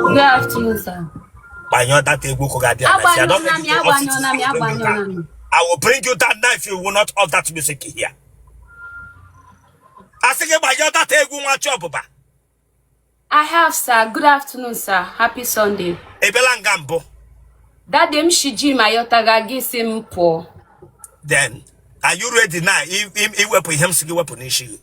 Good afternoon, sir. Gbanyụọ that egwu ụkwụ ga-abịa na si adọ gị to off it. I will bring you that knife you will not off that music here. A sị gị gbanyụọ that egwu nwa chi ọbụba. I have, sir. Good afternoon, sir. Happy Sunday. Ebela nga mbụ. That day m shi gym ayọta ga gị sị m pụọ. Then, are you ready now iwepụ ihe m sị gị wepụ n'isi gị?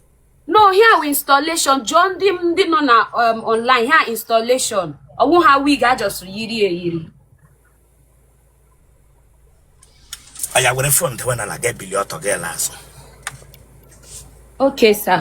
no ihe a wụ installation jụọ ndị ndị nọ na um, online ihe a installation ọ wụ ha wig a just yiri eyiri oya were phone dewe n'ala gị ebili ọtọ gị ele azụ okay sir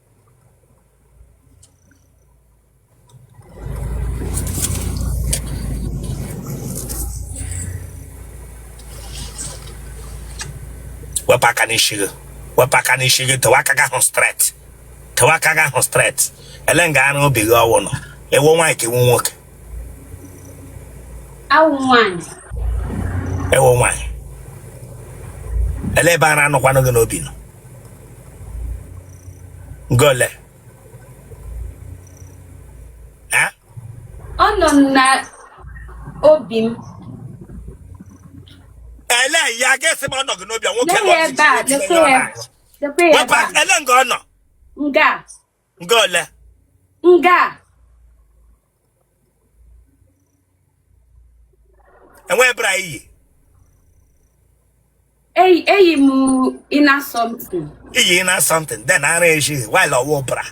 wepụ aka n'isi gị wepụ aka n'isi gị tọwa aka gị ahụ straight tọwa aka gị ahụ straight ele nga ara obi gị ahụ nọ ị wụ nwaanyị ka ị wụ nwoke a wụ m nwaanyị ị wụ nwaanyị ele ebe ara nọkwanụ gị n'obi nọ nga ole ọ nọ na obi m ele ya ga-esi ma ọ nọ gị n'obi a nwoke Lee ya ebe a, lekwa ya. Lekwa ya ebe a. ele nga ọ nọ Nga. nga ole nga e nwere bra i yi eyi eyi m inner something i yi inner something then ara eji while ọ wụ bra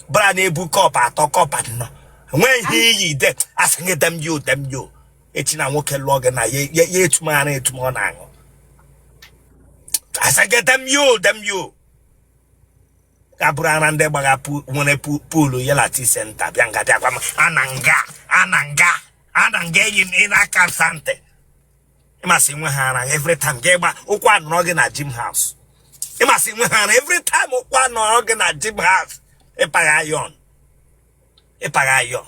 bra na-ebu cup atọ cup anọ e nwere ihe i yi de a sị gị dem yo dem yo echi na nwoke lụọ gị na ya ya etum ara etum ọ na-aṅụ a sị gị dem yo dem yo abụrụ ara ndị gbagha pu- nwere pu- pull ya lati center bịa nga bịakwa m ana nga ana nga ana nga eyi m inner aka sante ị ma sị i nwe ha ara every time ga ịgba ụkwụ anọrọ gị na gym house ị ma sị i nwe ha ara every time ụkwụ anọrọ gị na gym house ị pagha iron ị pagha iron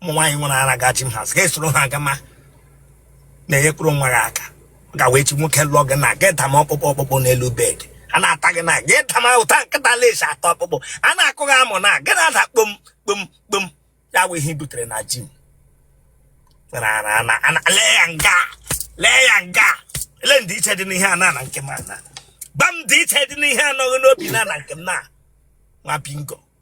ụmụ nwaanyị nwere ara ga gym house ị ga-esoro ha aga ma na-enyekwuru onwe gị aka ọ gawa echi nwoke lụọ gị na gị dama ọkpụkpụ ọkpụkpụ n'elu bed a na-ata gị na gị dama otu nkịta la-esi ata ọkpụkpụ a na-akụ gị amụ na gị na-ada kpom kpom kpom ya bụ ihe i butere na gym nwere ara ana ana lee ya nga lee ya nga ele ndịiche dị n'ihe a na na nke m ana gwa m ndịiche dị n'ihe a nọ gị n'obi na na nke m na nwa bingo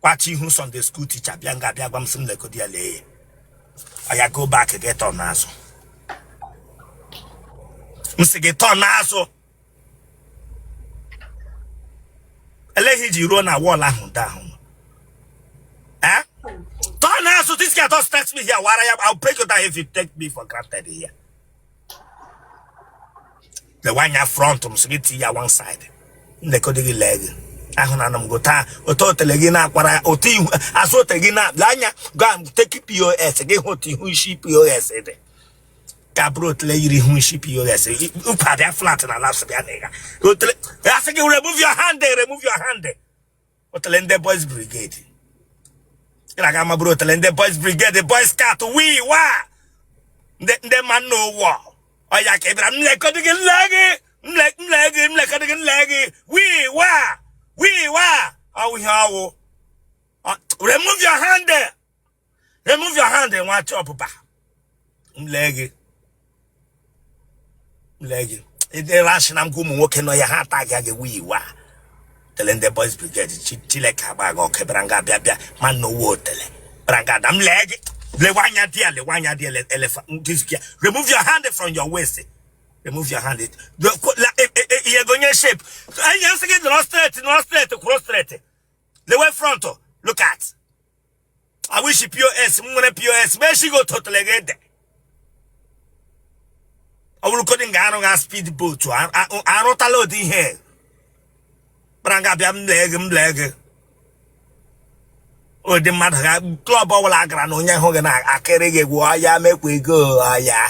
kwachi ihu Sunday school teacher bịa nga bịa gwa m sị m lekọdị ya lee ya ọya go back gị turn azụ m sị gị turn azụ eleghị ji ruo na wall ahụ ndị ahụ eh? turn azụ this guy don start me here wara ya I'll break you down if you take me for granted here lewe anya front m sị gị tinye ya one side m lekọdị gị lee gị ahụ na m gụta otu otele gị na-akwara otu ihu azụ otele gị na lee anya gaa take pos gị hụ otu ihu shi pos dị ka bụrụ otele yiri ihu shi pos ukwu adịa flat na laps bịa na ịga otele asị gị remove your hand remove your hand otele ndị boys brigade ị na-aga amabụrụ otele ndị boys brigade boys scout wii wa ndị man o war ọya ka ị bịara m lekọdị gị m lee gị m lee gị m lekọdị gị m lee gị wii wa wii wa ọ wụ ihe ọ wụ remove your hand there. remove your hand nwa achọ ọpụpa m lee gị m lee gị ịdịrị asị na ngwa ụmụ nwoke nọ ya ha ata gị aga wii wa otele ndị boys brigade chi chileke agba gị ọkụ bịara nga bịa bịa man o war otele bịara nga ada m lee gị lewe anya dị ya lewe anya dị ya elefa dizkia remove your hand from your waist remove your hand Do- ko- la- e- e- e- ihe gonye shape ihe m sị gị nọrọ straight nọrọ straight kwụrụ straight lewe front look at ihu shi pos m nwere pos ma echighị otu otele gị ede ọ bụrụ kodin ga arụ ga speed boat arụtala ụdị ihe bịara nga bịa m lee gị m lee gị ụdị mmadụ ga club ọbụla gara na onye ahụ gị na-akịrị gị gwụ ọya make we go ọya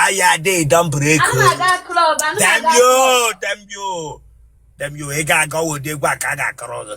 ọya dị dọmbụrụ ego damn you damn you damn you ị ga-aga ụdị egwu a ka a ga-akọrọ gị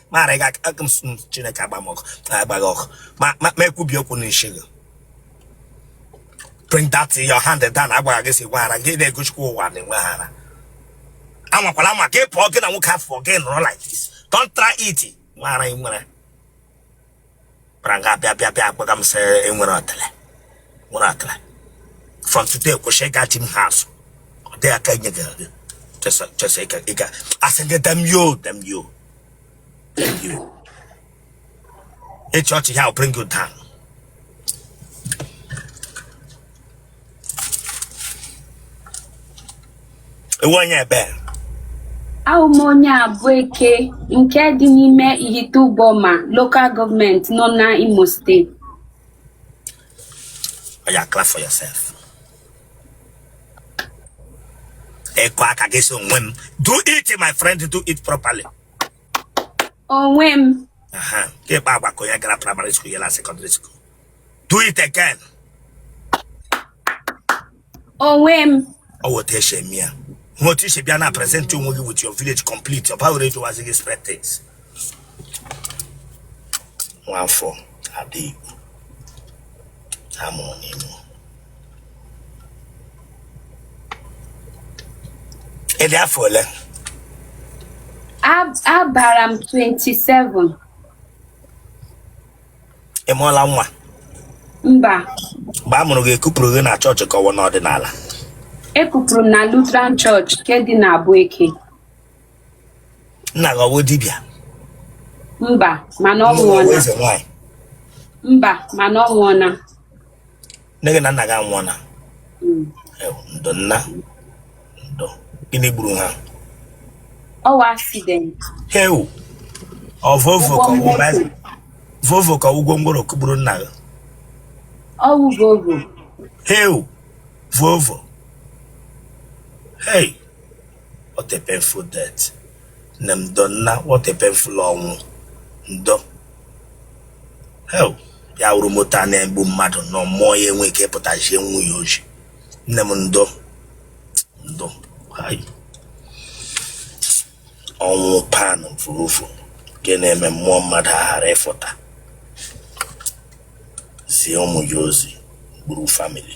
mara gị aka m chineke agba m ọkụ agba gị ọkụ ma ekwubi okwu n'isi gị bring that your hand down agwara gị sị gwaghara gị na-egochikwa ụwa na enweghara anwakwala anwa gị pụọ gị na nwoke afọ gị nọrọ like this don't try it nwara nwere bịara nga bịa bịa bịa gwa m sị ị nwere otele nwere otele from today kwụsị ịga gym house ọ dịghị aka enye gị gị chesa chesa ịga ịga asị gị damn you damn you damn you ị chịa ọchị here bring you down ị wụ onye ebe Abụ m onye Abụeke nke dị n'ime Ihite Uboma Local Government nọ na Imo Steeti. oya clap for yourself ị kụọ aka gị sị onwe m do it my friend do it properly Onwe m Aha. ka ị kpaa agwa ka onye gara primary school ya na secondary school do it again onwe m ọ wụ otu e si eme ya hụ otu i si bịa na present onwe gị with your village complete ọ baghịrị ejiwazi gị spread things nwafọ ada igbo a mụrụ n'Imo ị dị afọ ole A- agbara m 27 ị mụọla nwa mba mgbe a mụrụ gị e kupụrụ gị na chọọchị ka ọ wụ n'ọdịnala e kupụrụ m na Lutheran Church nke dị na Abueke nna gị ọ wụ dibịa mba mana ọ nwụọna mba mana ọ nwụọna nne gị na nna gị anwụọna Mm. Ew, ndo nna ndo gịnị gburu ha ọ wụ accident heu ọ Volvo Volvo ka ọ wụ gwongworo kụgburu nna gị ọ wụ Volvo heu Volvo hei what a painful death nne m ndo nna what a painful ọnwụ ndo heu ya wụrụ moto a na-egbu mmadụ nọ mmụọ ya enwe ike ịpụta zie nwunye ya ozi nne m ndo ndo hai ọnwụ pan mfurufu nke na-eme mmụọ mmadụ aghara ịfụta zie ụmụ ya ozi gburu famili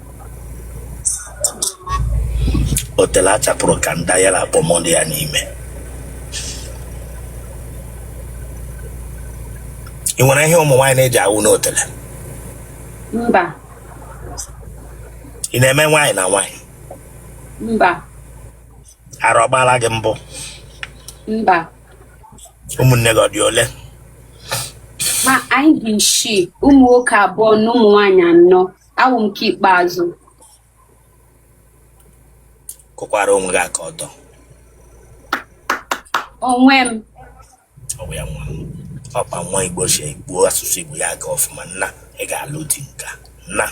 otele a chapụrụ kanda ya na kpomo dị ya n'ime ị nwere ihe ụmụ nwaanyị na-eji awụ n'otele mba ị na-eme nwaanyị na nwaanyị mba ara ọ gbaala gị mbụ mba ụmụnne gị ọ dị ole ma anyị dị isii ụmụ nwoke abụọ na ụmụ nwaanyị anọ awụ m nke ikpeazụ kụkwara onwe gị aka ọzọ onwe m ọ bụ ya nwa m ọkpa nwa igbo si gbuo asụsụ igbo ya aga ọfụma nna ị ga-alụ di nka nna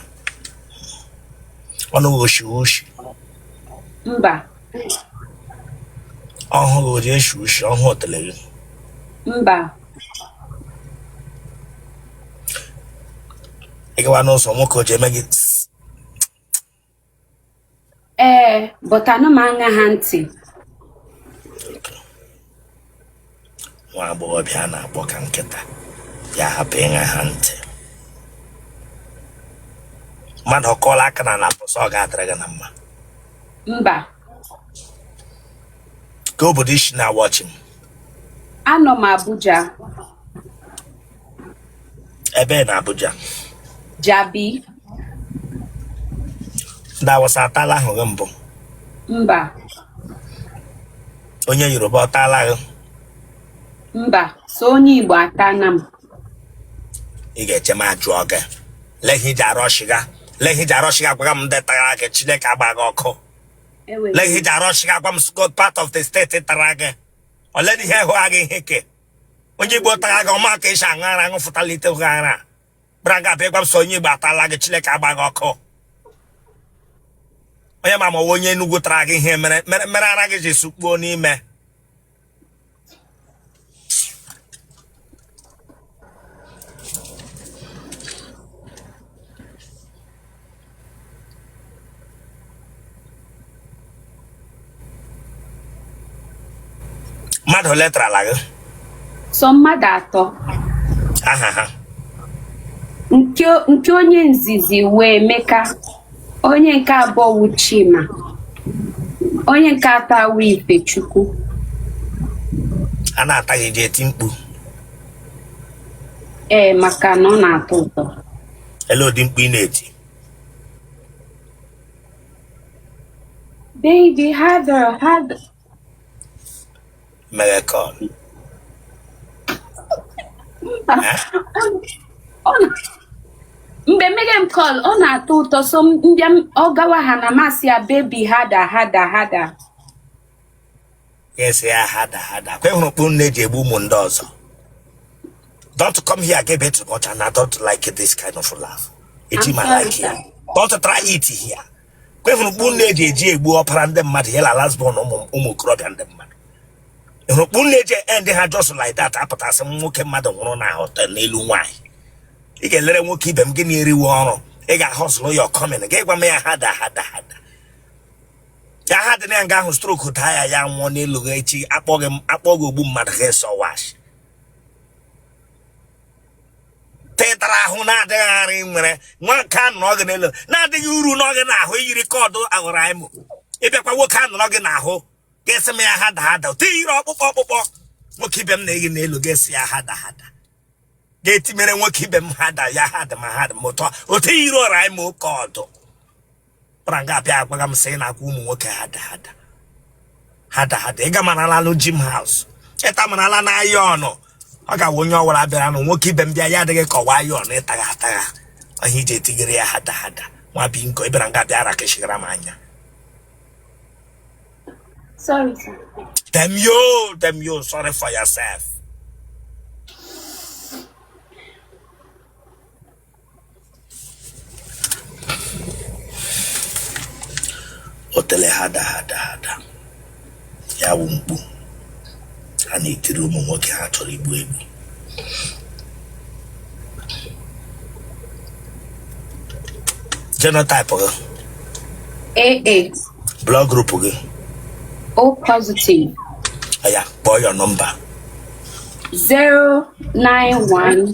ọnụ gị o shi ushi mba ọhụ gị o ji eshi ushi ọhụ otele gị mba ị gawa n'ụzọ nwoke o ji eme gị ee but anụ m aṅa ha ntị nwa agbọghọbịa a na-akpọ ka nkịta ya hapụ ịṅa ha ntị mmadụ ọkọọla aka na ala pụsọ ọ ga-adịrị gị na mma mba ka obodo i si na-awatch m anọ m abuja ebee na abuja jabi ndị awụsa atala ahụ gị mbụ mba onye yoruba ọ taala gị mba sọ onye igbo atana m ị ga-eche m ajụọ gị lehi ji arọshiga lehi ji arọshiga gwaga m ndị tara gị chineke agba gị ọkụ lee ihe ji arọchi agwa m sgo part of the state tara gị ole na ihe hụ agha ihe ke onye igbo tara gị ọ ma ka e si aṅụ ara aṅụfụtala ite hụ ara gbara ga abịa gwa m sọ onye igbo atala gị chineke agba gị ọkụ onye ma ma onye enugwu tara gị ihe mere mere ara gị ji sukpuo n'ime mmadụ ole tarala gị sọ mmadụ atọ aha ha nke nke onye nzizi wụ Emeka onye nke abụọ wụ Chima onye nke atọ wụ Ifechukwu a na-ata gị i ji eti mkpu ee maka na ọ na-atọ ụtọ ele ụdị mkpu ị na-eti baby harder Megacon. Mba. Eh? Ọ na- mgbe m mega m call ọ na-atọ ụtọ so m mbịa m- ọ gawa ha na m asị ya baby harder harder harder Yes, ya harder harder. Kwa ị hụrụ mkpu unu ji egbu ụmụ ndị ọzọ. Don't come here again too much and I don't like this kind of laugh. It I'm ma sorry, like sir. here. Don't try it here. kwa ị hụrụ mkpu unu eji eji egbu ọpara ndị mmadụ ya la last born ụmụ okorobịa ndị mmadụ ị hụrụ mkpu unu eji end ha just like that a pụta sị nwoke mmadụ nwụrụ na hotel n'elu nwaanyị ị ga-elere nwoke ibe m gị na-eriwe ọrụ ị ga-ahustle ya ọ come in gị gwa m ya harder harder harder ya harder na ya nga ahụ stroke taa ya ya nwụọ n'elu gị echi a kpọọ gị m a kpọọ gị ogbu mmadụ gị sọ wash tịtara ahụ na-adịghị aghara nwere nwoke anọrọ gị n'elu na-adịghị uru nọọ gị n'ahụ iyiri kọdụ aghọrọ anyị mụ ịbịakwa nwoke a nọrọ gị n'ahụ ga-esi m ya harder harder otu iyiri ọkpụkpọ ọkpụkpọ nwoke ibe m na-eyi n'elu ga-esi ya harder harder ga-etimere nwoke ibe m harder ya ha dị ma ha dị m ụtọ otu iyiri ọra anyị ma oke ọdụ bịara nga bịa agwaga m sị ị na-akwa ụmụ nwoke harder harder harder harder ịga marala alụ gym house ịta marala na iron ọ ga-awụ onye ọwara bịara nụ nwoke ibe m bịa ya adị gị ka ọwụ iron ịtagha atagha ọ ya iji etigere ya harder harder nwa bingo ịbịara nga bịa ara kechigara m anya Sorry, sir. damn you damn you sorry for yourself otele harder harder harder ya wụ mkpu a na-etiri ụmụ nwoke ha chọrọ igbu egbu genotype gị AA, blood group gị O positive, oya kpọọ your number 091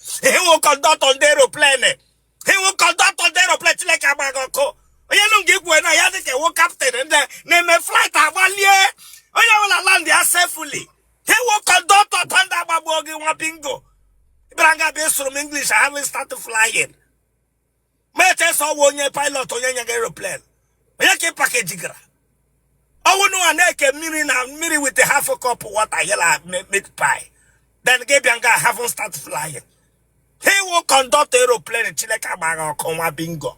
ị wụ conductor ndị aeroplane ị wụ conductor ndị aeroplane chineke agba gị ọkụ onye nụ gị ikwuwe na ya dị ka ị wụ captain ndị na-eme flight agbalie onye ọbụla land ya safely ị wụ conductor thunder agbagbuo gị nwa bingo ịbịara nga bịa sụọrọ m english having started flying mechesa ọwụ onye pilot onye nye gị aeroplane onye ka ị package gara ọwụ ụnụwa na-eke mmiri na mmiri with half cup water yela meat pie then gị bịa nga haven't start flying ị wụ conductor aeroplane chineke agba gị ọkụ nwa bingo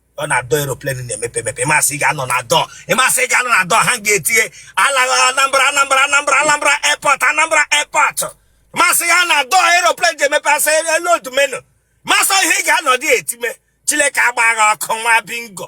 ọ na door aeroplane na-emepe emepe ịmasị ị ga-anọ na door ịmasị ị ga-anọ na door hang etiwe anambra anambra anambra anambra airport anambra airport masị ya na door aeroplane ji emepe asị elu odu menu masị ihe ị ga-anọ dị etime chileke agba gị ọkụ nwa bingo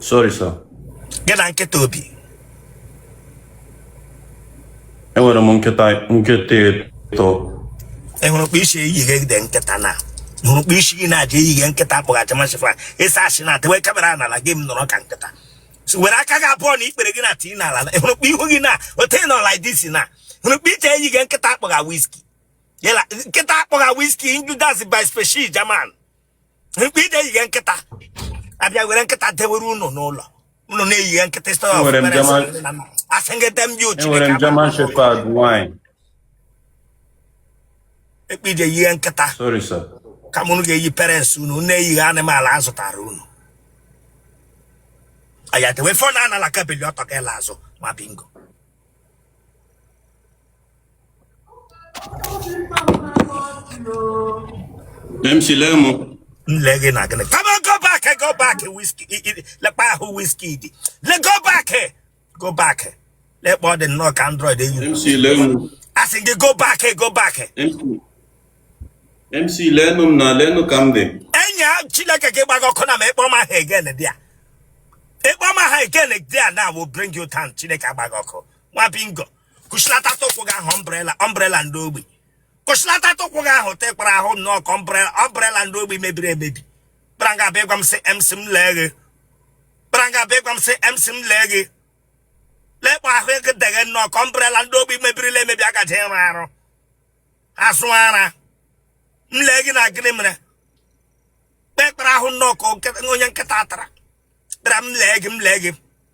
sorry sir gị na nkịta obi enwere m nkịta nkịta ịtọ ịhụrụ kpa isi eyighe gide nkịta na hụrụ kpa isi gị na-aja eyighe nkịta akpọghachi masịfa ịsa asị na tewe camera n'ala gị m nọrọ ka nkịta were aka gị abụọ na ikpere gị na tii n'ala hụrụ kpa ihu gị na ote nọ like this na hụrụ kpa ite eyighe nkịta akpọgha whiskey nkịta akpọgha whiskey injudas by species German mgbe ije yighe nkịta a bịa were nkịta dewere unu n'ụlọ unu na-eyighe nkịta ịsọ Enwere m German- a sị gị dem ji ochi enwere m German Shepherd nwaanyị mgbe ije yighe nkịta sorry sir kama unu ga-eyi parents unu unu eyighe animal a zụtara unu ayatewe fon anala kabeli ọtọ ga-ele azụ nwa bingo MC lee m m lee gị na gịnị come on go back go back whiskey lekpa ahụ whiskey dị le go back go back lekpa ọ dị nnọọ ka android eyi MC lee m a sị gị go back go back MC lee m na lee m ka m dị enyi a chineke gị gbago ọkụ na ma ị kpọ m aha again there ị kpọ m aha again there na will bring you down chineke agbago ọkụ nwa bingo kụchilata tụkwụ gị ahụ umbrella umbrella ndị ogbi kụchilata tụkwụ gị ahụ tekpara ahụ nnọọ ka umbrella ndị ogbi mebiri emebi kpara nga abịa gwa m sị mc m lee gị kpara nga abịa gwa m sị mc m lee gị lekpa ahụ ego deghe nnọọ ka umbrella ndị ogbi mebirila emebi a gaje ịrụ arụ asụ ara m lee gị na gịnị mere kpekpere ahụ nnọọ ka onye nkịta tara kpere m lee gị m lee gị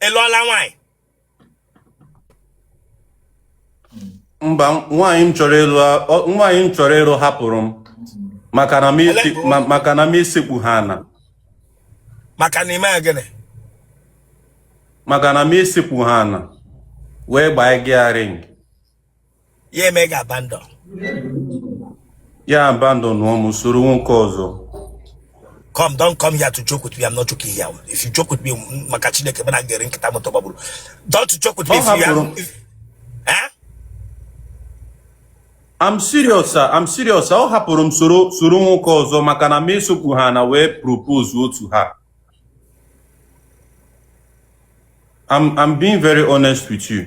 ị lụọla nwaanyị mba nwaanyị m chọrọ ịlụ ọ- nwaanyị m chọrọ ịlụ hapụrụ m maka na m isi- Ele- ma- maka na m esekpuhọ ana maka na i me ya gịnị maka na m esekpuhọ ana wee gbaa gị ya ring ya eme gị abandon ya abandonụọ m soro nwoke ọzọ come don't come here to joke with me i'm not joking here if you joke with me maka chineke mana ga-eri nkịta moto gbagburu don't joke with me if you eh? I'm serious sir I'm serious ọ hapụrụ m soro soro nwoke ọzọ maka na m esekpuhọ ana wee propose to her I'm I'm being very honest with you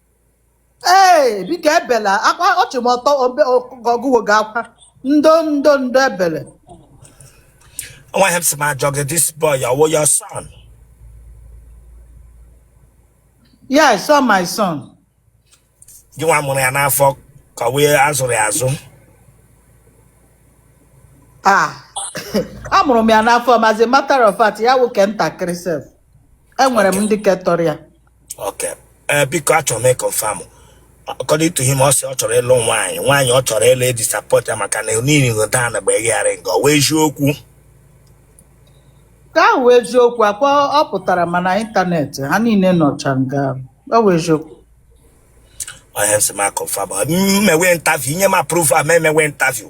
ee biko ebela akwa ọchị m ọtọ obe ọgụwo gị akwa ndo ndo ndo ebele Nwa ihe m sị m jụọ gị this boy ọ wụ your son. yes sir my son Gị nwa mụrụ ya n'afọ ka ọ wụ ị zụrụ ya azụ. ah amụrụ m ya n'afọ m as a matter of fact ya nwoke ntakịrị sef enwere m ndị ke tọrọ ya Okay. Eh, biko achọrọ m ịkọnfam according to him ọ sị ọ chọrọ ịlụ nwaanyị nwaanyị ọ chọrọ ịlụ adisappoint ya maka na niile dan bụ egharị nga ọ wụ eziokwu ka ọ wụ eziokwu akwa ọ pụtara ma na ịntanetị ha niile nọcha nga ọ wụ eziokwu ihe m sị m kọnfam m mewe interview ị nye m approval m mewe interview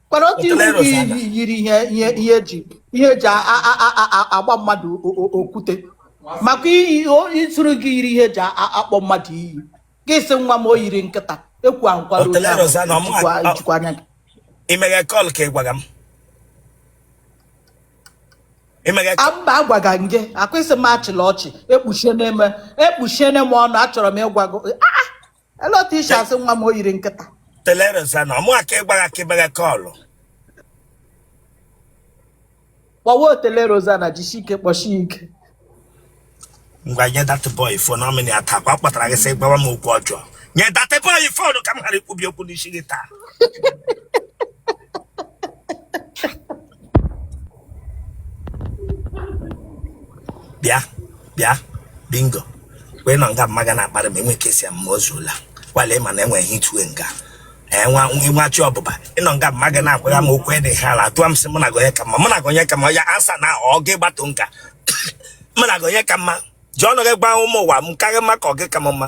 Mana otu Otele iwu Rosa na- yi- yiri ihe ihe ihe eji ihe eji a- a- a- a- a- agba mmadụ o- o- okwute maka iyi o- ịtụrụ gị yiri ihe eji a- a- akpọ mmadụ iyi gị sị nwa m o yiri nkịta ekwu ahụ nkwado Otele onye ahụ, Rosa na ọmụ- ijikwa- ọ- ijikwa anya gị imeghe kọl ka ị gwara m imeghe kọl mba agwaga m gị akwa ị sị m achịla ọchị ekpuchiene m ekpuchiene m ọnụ achọrọ m ịgwa gị "Ah, ah, Ele otu ị si asị nwa m o yiri nkịta. otele Rosanna ọmụ aka ịgba gị ka ịgba gị kọlụ Kpọwa otele Rosanna jisi ike kpọchi ya ike. ngwa nye that boy phone ọmịnị ya taa kwa ọ kpọtara gị sị gwawa m okwu ọjọọ nye that boy phone ka m ghara ikwubi okwu n'isi gị taa bịa bịa bingo wee nọ nga mmaga na-akparị m enwe kesi mma o zuola kwale ma na enweghị itue nga enwa nwachi ọbụba ịnọ nga mmaga na-akwara m okwu dị ha ala atụwa m sị mụ na gị onye ka mma mụ na gị onye ka mma ya answer na ọ gị gbatụ nka mụ na gị onye ka mma ji ọnụ gị gwa ụmụ ụwa mụ ka gị mma ka ọ gị ka m mma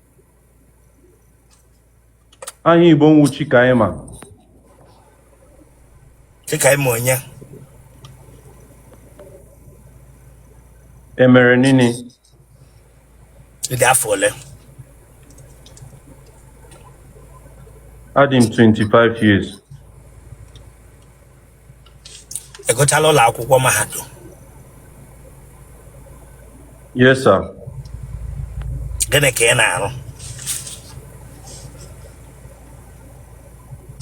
aha Igbo wụ Chikaima Chikaima onye Emerenini ị dị afọ ole adị m 25 years ị gụchala ụlọ akwụkwọ mahadum Yes, sir. gịnị ka ị na-arụ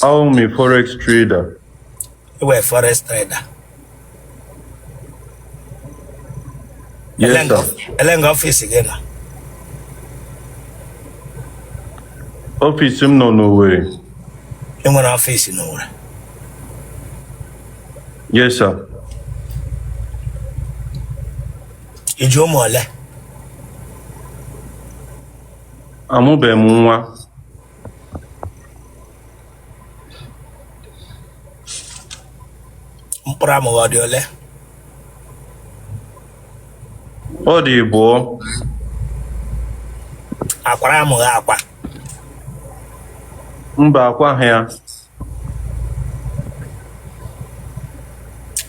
I'm a forex trader. ị wụ forex trader Yes, sir. ele nga ọfịs gị nọ Ọfịs m nọ n'Owerri. ị nwere ọfịs n'Owerri Yes, sir. Ị ji ụmụ ole? Amụbeghị m nwa. Mkpụrụ amụ gị ọ dị ole? Ọ dị abụọ. A kwara amụ gị akwa? Mba akwaghị ya.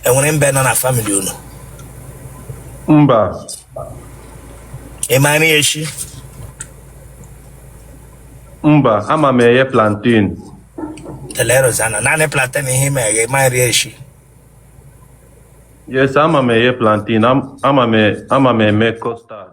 enwere mbe nọ na family unu mba ị ma nri eshi mba ama m eghe plantain telerozana naanị plantain ihe ị ma eghe ma nri eshi yes ama m eghe plantain ama m eme custard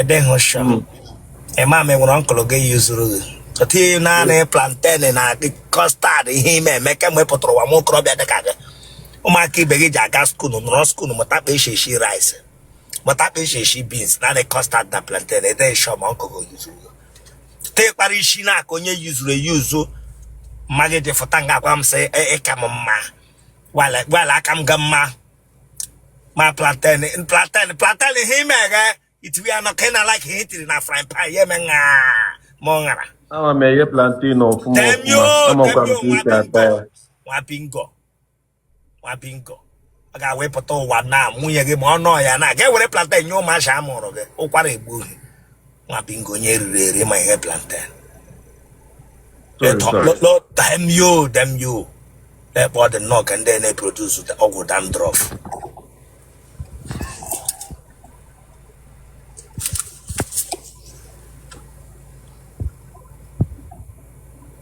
edehụ sure hmm. ịma m enwere uncle gị yuzuru gị ọtụ ihe naanị hmm. plantain na custard ihe ị ma eme kemgbe ị pụtara ụwa nwa okorobịa dịka gị ụmụaka ibe gị ji aga skuulu nọrọ skuulu mụta kpa esi esi rice mụta kpa esi esi beans naanị custard na plantain edeghị sure ma uncle gị yuzuru gị te kpara isi na aka onye yuzuru eyuzu ma gị dị fụta nga agwa m sị ị ka e, e m mma gwala a ka m gị mma ma plantain plantain plantain ihe ị ma eghe i tiwe ya n'ọkụ ị na like ihe i tiri na frying pan ya eme ṅa ma ọ ṅara ama m eghe plantain ọfụma damn you ọfụma amakwa m damn you ka esi ata ya nwa bingo nwa bingo ọ ga-ewepụta ụwa na nwunye gị ma ọ nọ ya na ga-ewere plantain nye ụmụazị a mụrụ gị ụkwara egbu gị nwa bingo onye e riri eri ma eghe plantain Sorry, Ịtọ- sorry. lo- lo- damn you damn you le kpa ọ dị nnọọ ka ndị na-eproduce ọgwụ dandruff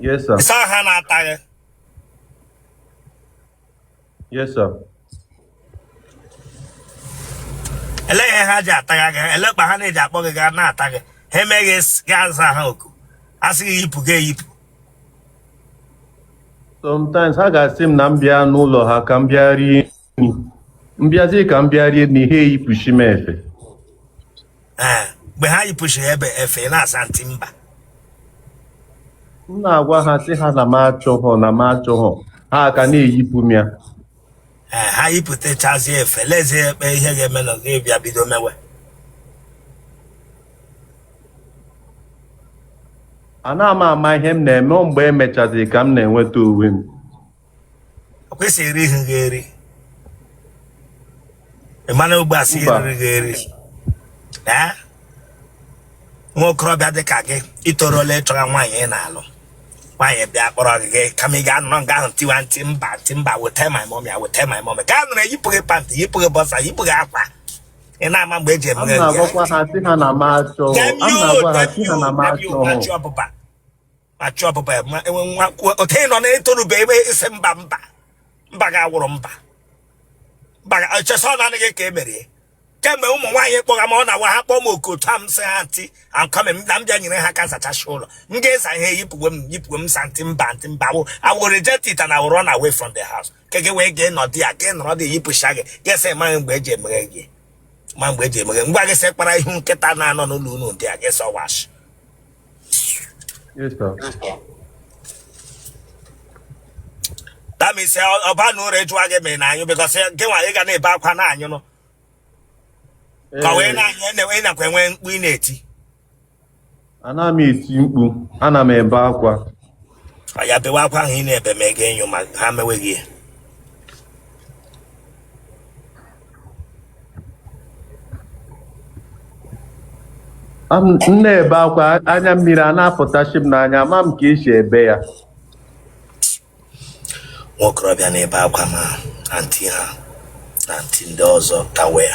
Yes, sir. Ị sị ha na-ata gị. Yes, sir. Ele ihe ha ji ata gị, ele kpa ha na-eji akpọ gị gaa na-ata gị. Ha eme gị sị gị aza ha oku. A sị gị yipụ gị eyipụ. Sometimes ha ga-asị m na m bịa n'ụlọ ha ka m bịa rie m bịazie ka m bịa rie nri ha eyipụchi m efe Ee, mgbe ha yipụchiri ebe efe ị na-asị auntie mba m na-agwa ha sị ha na m achọghọ na m achọghọ ha ka na-eyipụ m ya Ee, ha yipụtachazie efe lezie kpa ihe ga-eme na gị bịa bido mewe ana m ama ihe m na-eme mgbe emechaziri ka m na-enweta onwe m ọkwa ị sị erihị gị eri ị mana ugbu a sị Mba. eriri gị eri ee nwa okorobịa dị ka gị i torola ịchọga nwaanyị ị na-alụ nwaanyị bịa kpọrọ gị gị kama ị ga-anọ nga ahụ tiwa auntie mba auntie mba weta my mommy a weta my mommy gị anọrọ yipụ gị pant yipụ gị boxer yipụ gị akwa ị na-ama mgbe eji a emeghe gị na-agwakwa ha sị ha na m achọ a Damn you, na-agwa ha sị ha na m damn you, achọ damn you, achọ ọbụba achụ ọbụba ya ma enwe nwa otu ị nọ na-etorube ebe isi mba mba mba ga-awụrụ mba mba chesa ọ na-anaghị ka e merie kemgbe ụmụ nwaanyị kpọga ma ọ na-awa ha kpọọ m oku otu a m sị anti ankọme na m bịa nyere ha aka zachacha ụlọ m ga-eza ihe yipụwe m yipụwe m sị anti mba anti mba wo I will reject it and I will run away from the house ke gị wee gee nọdụ ya gị nọrọ dị yipụcha gị ga-asị amaghị mgbe eji emeghe gị ma mgbe eji emeghe ngwa gị sị kpara ihu nkịta na-anọ n'ụlọ unu dị a gị sọ wash Yes, sir. that means ọba na ụra ejụwa gị mere na anyụ because gị nwa ị ga na-ebe akwa na anyụ nọ ka wee na-anyụ ị nakwa enwe mkpu ị na-eti ana m eti mkpu ana m ebe akwa ya bewe akwa ahụ ị na-ebe ma ego enyo ma ha meweghị ya Am- m na-ebe akwa anya mmiri a na-apụtachi m n'anya ama m ka esi ebe ya nwa okorobịa na-ebe akwa ma anti ha na anti ndị ọzọ ka wee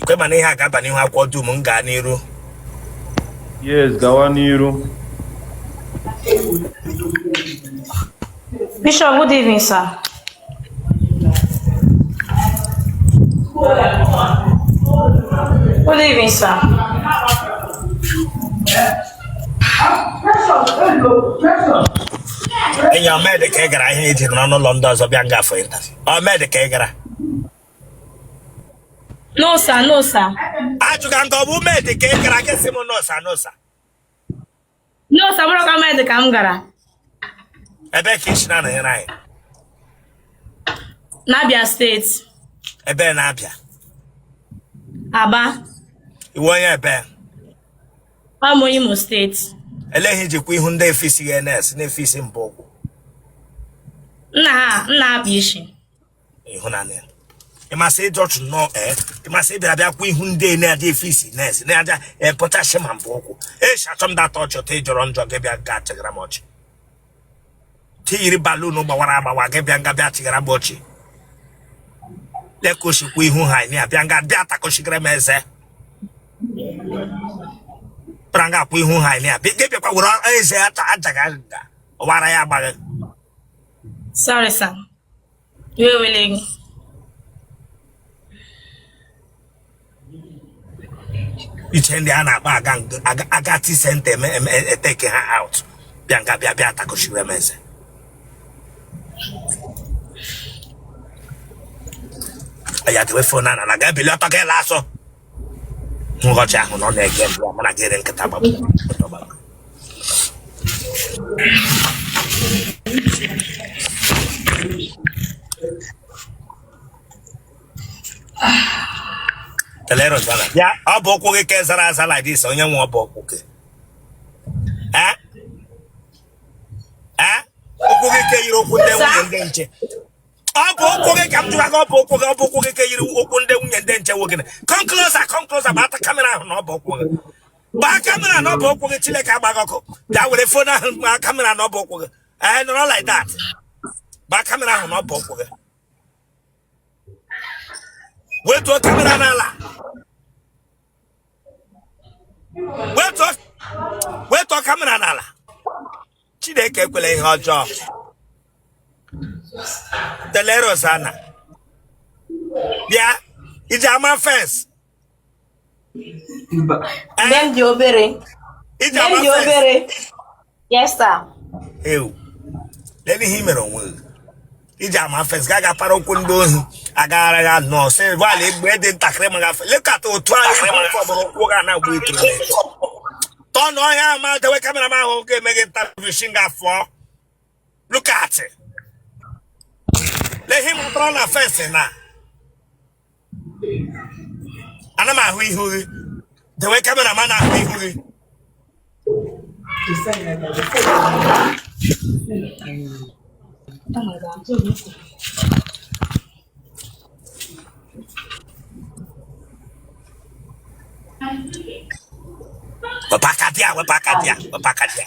ikwe mana ihe a ga-aba n'ihu akwụkwọ dum m gaa n'iru yes gawa n'iru Bishop, good evening, sir. Good evening, sir. enyi ọ mee dị ka ị gara ihe iji nọrọ n'ụlọ ndị ọzọ bịa nga for interview ọ mee dị ka ị gara No sir, no sir. Ajụ gị nke ọ bụ mee dị ka ị gara gị sị m no sir no sir. No sir bụrụ ka mee dị ka m gara. Ebe ka i si na-anọnyere anyị? N'Abia steeti. Ebe n'Abia? Aba. Ị wụ onye ebe? Ọ wụ Imo steeti. Ele ihe i jikwa ihu ndị efisi gị na-efisi mbụ ụkwụ. Nna ha, nna ha bụ isi. ịhụnanya ị ma sị ị jọchụ nnọọ ee eh, ị ma sị ị bịara bịa kwa ihu ndị na-adị efe isi na-esi na-adịa epụtachi eh, ma mbụ ụkwụ echi achọ m data ọchị ọtọ ị jọrọ njọ gị bịa ga achịgara m ọchị ntị yiri balloon gbawara agbawa gị bịa nga bịa achịgara m ọchị lekosikwa ihu ha anyị abịa nga bịa atakọchigara m eze pụtara nga akwụ ihu ha anyị abịa gị bịakwa were eze ajaghị ajaga ọwara ya agbaghị Sorry, sir. We are willing. i che ndị a na-akpa aga aga aga ti senta eme eme e take ha out bịa nga bịa bịa atakochiwe m eze ya tewe fon ana na ga ebili ọtọ gị lasọ nghọcha ahụ na ọ na-ege mbụ mana gị ere nkịta gbagbu telero sana ya ọbụ ụkwụ gị ka zara aza like this onye nwe ọbụ ụkwụ gị Eh? Eh? ụkwụ gị ka yiri ụkwụ ndị nwunye ndị nche ọbụ ụkwụ gị ka m jụọ gị ọbụ ụkwụ gị ọbụ ụkwụ gị ka yiri ụkwụ ndị nwunye ndị nche nwoke come closer come closer gbata kamera ahụ n'ọbụ ụkwụ gị gbaa kamera n'ọbụ ụkwụ gị chineke agba gị ọkụ bịa were fon ahụ gbaa kamera n'ọbụ ụkwụ gị ee nọrọ like that gbaa kamera ahụ n'ọbụ ụkwụ gị wetuo kamera n'ala wetuo kamera n'ala chineke ekwela ihe ọjọọ telero sana bịa iji ama fence Nne m dị obere. iji ama fence. Yes, sir. ewu lee ihe i mere onwe gị iji ama fence ga aga para ụkwụ ndị ohi agaghara ya nọ sị gbalị egbe dị ntakịrị ma gafe lekọta otu anyị fọbụrụ ụkwụ ga na agba ituru tọ na ọhịa ama dewe kamera m ahụ ga-eme gị ntavishin gafọ look at it lehi matara na fes na ana m ahụ ihu gị dewe kamera ma na-ahụ ihu gị wepụ aka bịa wepụ aka bịa wepụ aka bịa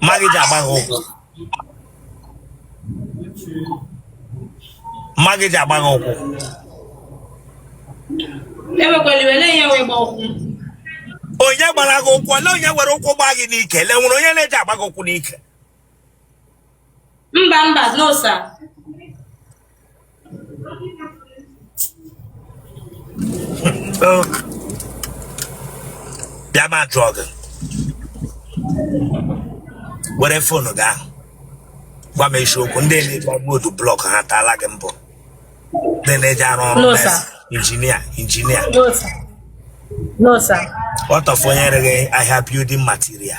mma gị ji agba gị ụkwụ mma gị ji agba gị ụkwụ onye gbara gị ụkwụ ole onye were ụkwụ gbaa gị n'ike le nwere onye na-eji agba gị ụkwụ n'ike mba mba no sir bịa ma jụọ gị were fonu gị ahụ gwa m eziokwu ndị na-eji agbodu blọk ha taala gị mbụ ndị na-eji arụ ọrụ No, sir. injinia injinia No, sir. No, sir. what of onye ere gị ahịa building material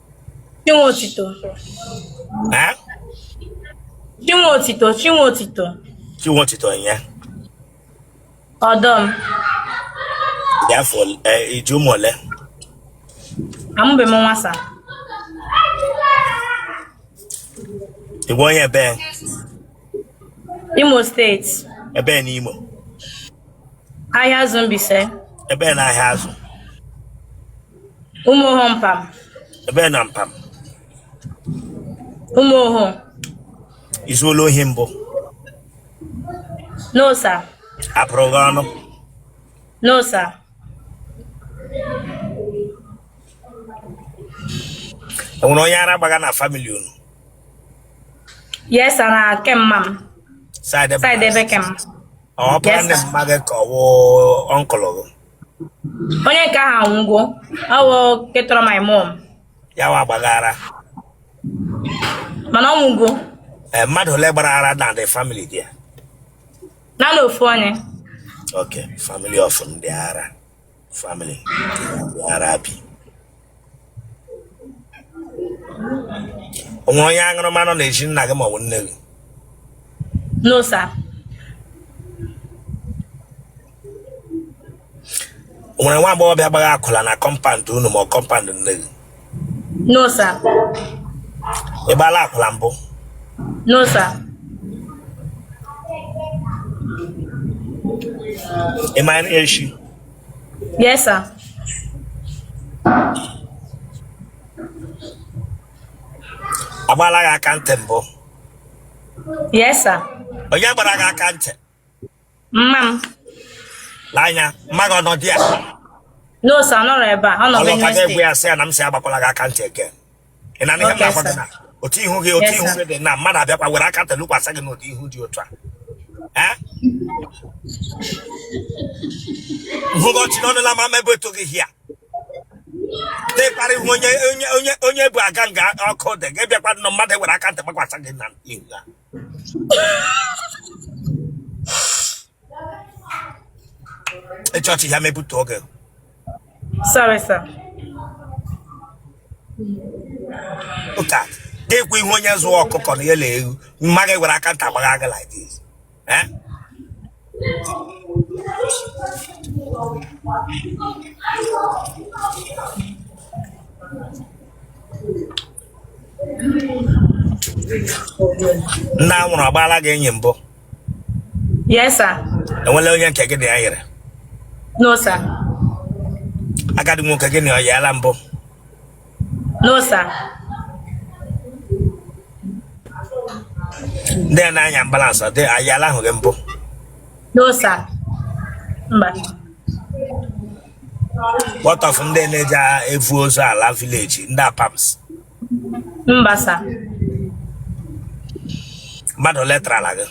Chinwe otito. Ha? Chinwe otito, chinwe otito. Chinwe otito ya. Ọdọ m. Ya afọ eh, i ji ụmụ ole? Amụbe m nwa, sir. Ị bụ onye ebe? Imo steeti. Ebee na Imo? Ahịazụ Mbaise. Ebee na Ahịazụ? Ụmụoho Mpam. Ebee na Mpam? Ụmụoho. I zuola ohi mbụ? No, sir. Apụrụ gị ọnụ? No, sir. Enwere onye ara gbaga na famili unu? Yes, sir. Na ke mma m. Side, side ebe ke m. Oh, yes, sir. Mother, ọ wụ uncle gị. Onye nke ahụ anwụgo, ọ bụ ke tọrọ my mom. Ya wa gbagara. Mana ọ nwụgo. Eh, mmadụ ole gbara ara na the family there? Naanị ofu onye. Okay, family of ndị ara. family ara bi o nwe onye aṅụrụma nọ na-eji nna gị maọbụ nne gị no sir o nwere nwa agbọghọbịa gbara akwụla na kọmpand unu ma ọ kọmpand nne gị No sir. Ị gbaala akwụla mbụ? No sir. Ị ma nri esi? Yes sir. Agbaala gị aka ntị mbụ? Yes sir. Onye gbara gị aka ntị? mma m Lee anya, mma gị ọ nọ di ya? no sir ọ nọrọ ebe a ọ nọ Benue steeti. Ọ lọta gị gwa ya sị ya na m sị agbakwala gị aka ntị eke. Ị na-anụ ihe m na-agwa gị? Okay, sir. na otu ihu gị Yes, sir. otu ihu gị dị na mmadụ abịakwa were aka ntị lụkwasị gị n'ụdị ihu dị otu a. Eh? Nhụgo ọchị n'ọnụ na mama ebe eto gị hia. Dịka ihu onye onye onye onye bụ aga nga ọkụ dị gị bịakwa nọ mmadụ were aka ntị gbakwasị gị na ihu ya. e chọọchị ya mebute oge Sorry, sir. ụka ga-ekwu ihu onye zuo ọkụkọ na ya na ewu mma gị were aka ntị gbaa gị like this Eh? nna a nwụrụ agbaala gị enyi mbụ Yes, sir. enwela onye nke gị na ya yere No, sir. agadi nwoke gị na ọ yaala mbụ No, sir. ndị a na-anya ambalansị ọ dị ayaala ahụ gị mbụ No, sir. Mba. what of ndị na-eji evu ozu ala village ndị apams mba sir mmadụ ole tarala gị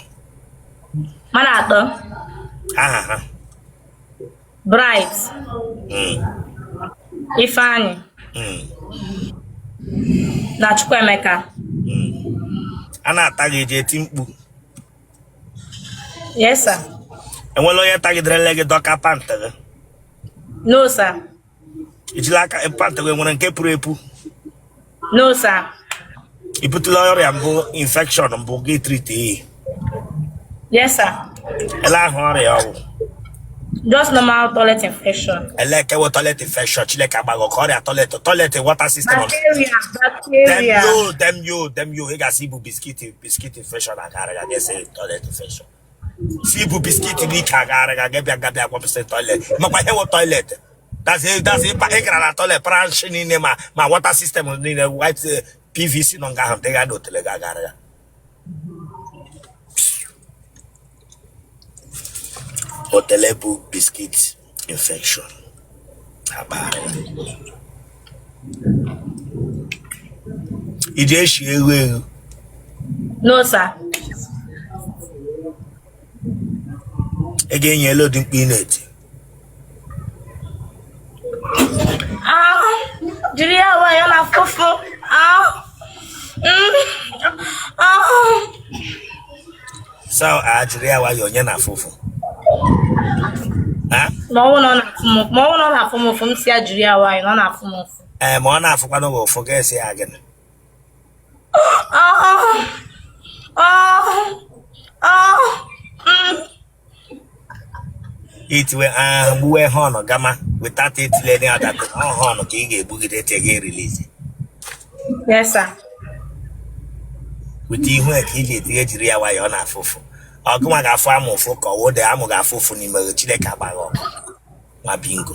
mmadụ atọ aha ha bright Mm, ifeanyị mm, na chukwuemeka mm. a na-ata gị i ji eti mkpu Yes, sir. enwela onye tagiderele gị dọka pant gị No, sir. i jila aka pant gị nwere nke puru epu No, sir. i butela ọrịa mbụ infection mbụ gị treat ya Yes, sir. ele aha ọrịa ọ wụ Just normal toilet infection. ele nke wụ toilet infection chineke agba gị ọkụ ọrịa toilet toilet water system Bacteria, damn bacteria. you damn you damn you ị ga-asị i bu biscuit biscuit infection a ga-ara gị gị sị toilet infection sị i bu biscuit n'ike a ga-ara gị gị abịa gị abịa gwapụsị toilet makwa ihe wụ toilet that is that is ịpa ị gara na toilet branch niile ma ma water system niile white eh, pvc nọ nga ahụ dịga na otele gị a ga-ara ya otele bụ biscuit infection akpa iji eshi eghu eghu no sir ị ga-enye ele ụdị mkpu ị na-eti ahụ jiri ya nwayọ na-afụ ụfụ ahụ ahụ so jiri ya nwayọ onye na-afụ ụfụ Ha? ma ọ bụrụ na ọ na-afụ m ụfụ ma ọ bụrụ na ọ na-afụ m ụfụ m sị ya jiri ya nwayọ na ọ na-afụ m ụfụ ee ma ọ na-afụkwanụ gị ụfụ ga-asị ya gịnị Ah, ah, ah, ah, mm. itiwe ahụ gbuwe horn gama without itinye any other thing ọ horn ka ị ga-egbugide tee gị release Yes, sir. weta ihu ya ka ị ga-etinye jiri ya nwayọ ọ na-afụ ụfụ ọ gịnwa ga-afụ amụ ụfụ ka ọ wụdị amụ ga-afụ ụfụ n'ime gị chineke agba gị ọkụ nwa bingo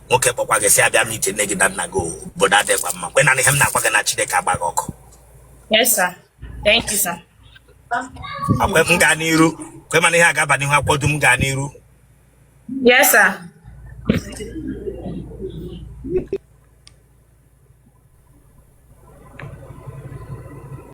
nwoke kpọkwa gị sị abịa m iche nne gị na nna gị obodo adịkwa mma kwe na ihe m na-agwa gị na Chineke agba gị ọkụ a kwe m gaa n'iru kwe m na ihe a ga-aba n'ihe a kwado m gaa n'iru Yes, sir.